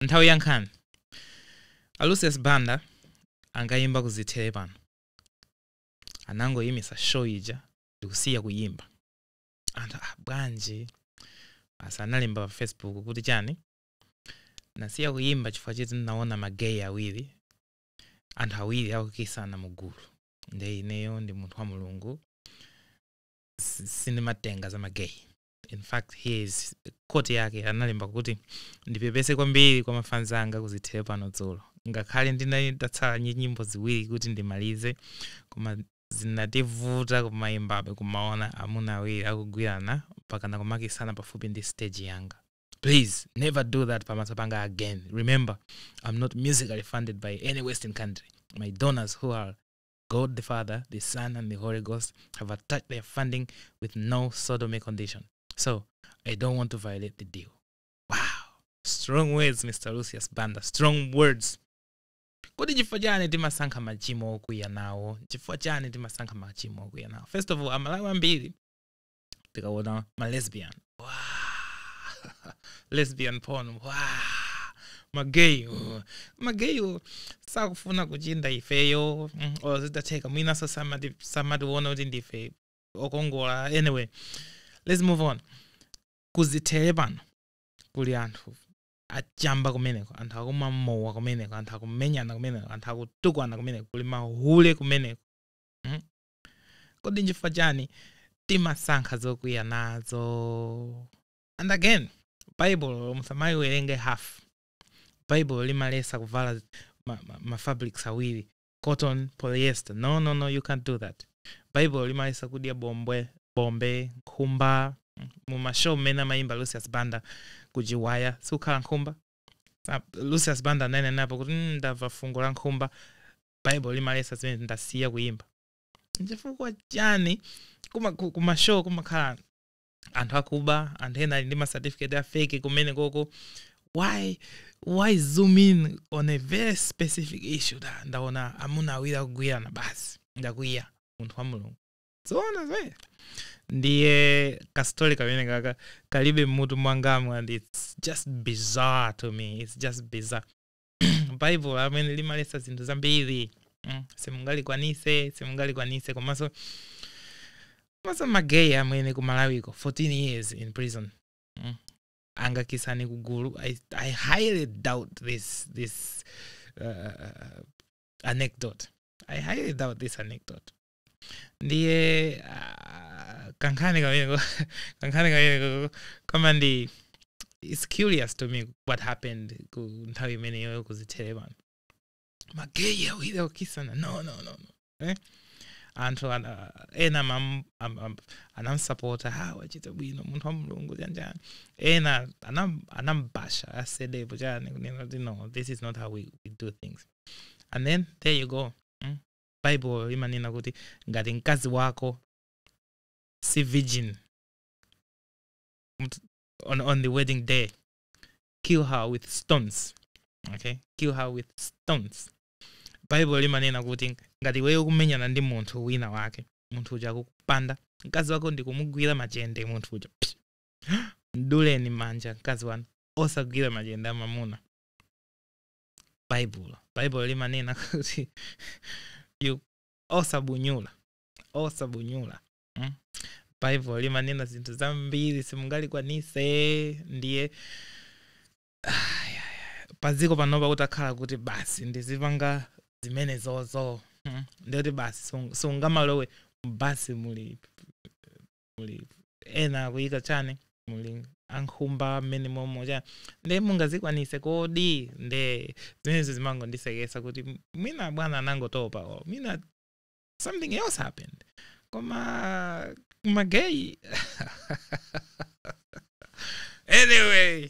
nthawi ya nkhani a lucius banda ankayimba kuzithere pano anangoyimisa show ija ndikusiya kuyimba anthu ah, bwanji basi analemba pa facebook kuti chani nasiya kuyimba chifukwa choti ndinaona mageyi awiri anthu awiri akukisana mu gulu nde ineyo ndi munthu wa mulungu si- sindimatenga za mageyi in fact here's koti yake analemba kuti ndipepese kwambiri kwa mafanzi anga kuzithere pano dzulo ngakhale ndinali ndatsala ndi nyimbo ziwiri kuti ndimalize koma zinativuta kumayimbabe kumaona amuna awiri akugwirana mpaka nakumakisana pafupi ndi stage yanga please never do that pamaso panga again remember i'm not musically funded by any western country my donors who are God the Father, the Son, and the Holy Ghost have attached their funding with no sodomy condition. So I don't want to violate the deal. Wow. Strong words, Mr. Lucius Banda. Strong words. kodi chifukwa chani timasankha machimo okwiya nawo chifukwa chani timasankha machimo okwiya nawo first of all amalawi ambiri tikaona ma lesbian wow. lesbian porn wow. magay magaywo sakufuna kuchinda ifeyo mm, or zitatheka, mwinanso samati- samationa kuti ndife okongola anyway let's move on kuzithere pano kuli anthu achamba kumeneko anthu akumwa mowa kumeneko anthu akumenyana kumeneko anthu akutukwana kumeneko kuli mahule kumeneko mm? kodi n'chifukwa chani timasankha zokwiya nazo and again baibulo musamayiwerenge half baibulo limalesa kuvala ma, ma, ma fabrics awiri cotton polyester no no no you can't do that baibulo limalesa kudya bombwe bombe nkhumba mumashow momwe amayimba lucius banda kuchiwaya sikukhala nkhumba Sa- lucius banda ananenapo kuti "Mm, ndamva fungo la nkhumba baibulo limaletsa zimenezi ndasiya kuyimba nchifukwa chani kuma- ku- kumashow kumakhala anthu akuba anthu ena ali ndi masatifiketi afeki kumene koko why why zoom in on a very specific issue da ndaona amuna awiri akugwirana basi ndakwiya munthu wa mulungu zoona zee ndiye kastori kamenekaka kalibe mutu mwangamu and its just bizarre to me its just bizarre baibulo amene limaletsa zinthu zambiri mm, simungalikwanise simungalikwanise komanso komanso mageyi amene ku malawiko 14 years in prison mm, angakisane kugulu I, i highly doubt this this uh, anecdote i highly doubt this anecdote ndiye ah, kankhani kameneko kankhani kameneko koma ndi it's curious to me what happened ku nthawi imeneyo kuzithere pano mageyi awiri akukisana no no no no eh? anthu ana- ena mam- am- am- anamsapota a wachita bwino munthu wa mulungu chanjani ena anam- anambasha asedepo chani kunena kuti no this is not how we, we do things and then there you go mm? baibulo limanena kuti ngati mkazi wako si virgin mut- on, on the wedding day kill her with stones okay kill her with stones baibulo limanena kuti ngati iweyo ukumenyana ndi munthu wina wake munthu uja akukupanda mkazi wako ndikumugwira machende munthu uja Psi. mduleni manja mkazi wanu osagwira machende amamuna baibulo baibulo limanena kuti you- osabunyula osabunyula mm? baibulo limanena zinthu zambiri simungalikwanise ndiye padziko panopa kutakhala kuti basi ndizipanga zimene zozo mm? ndiye kuti basi sung- sungamalowe basi muli muli ena akuyika chani muli ankhumba mmene momo chani nde mungazikwanise kodi nde zimenezo zimangondisekesa kuti m- mwina bwana anangotopa or mwina something else happened koma mageyi anyway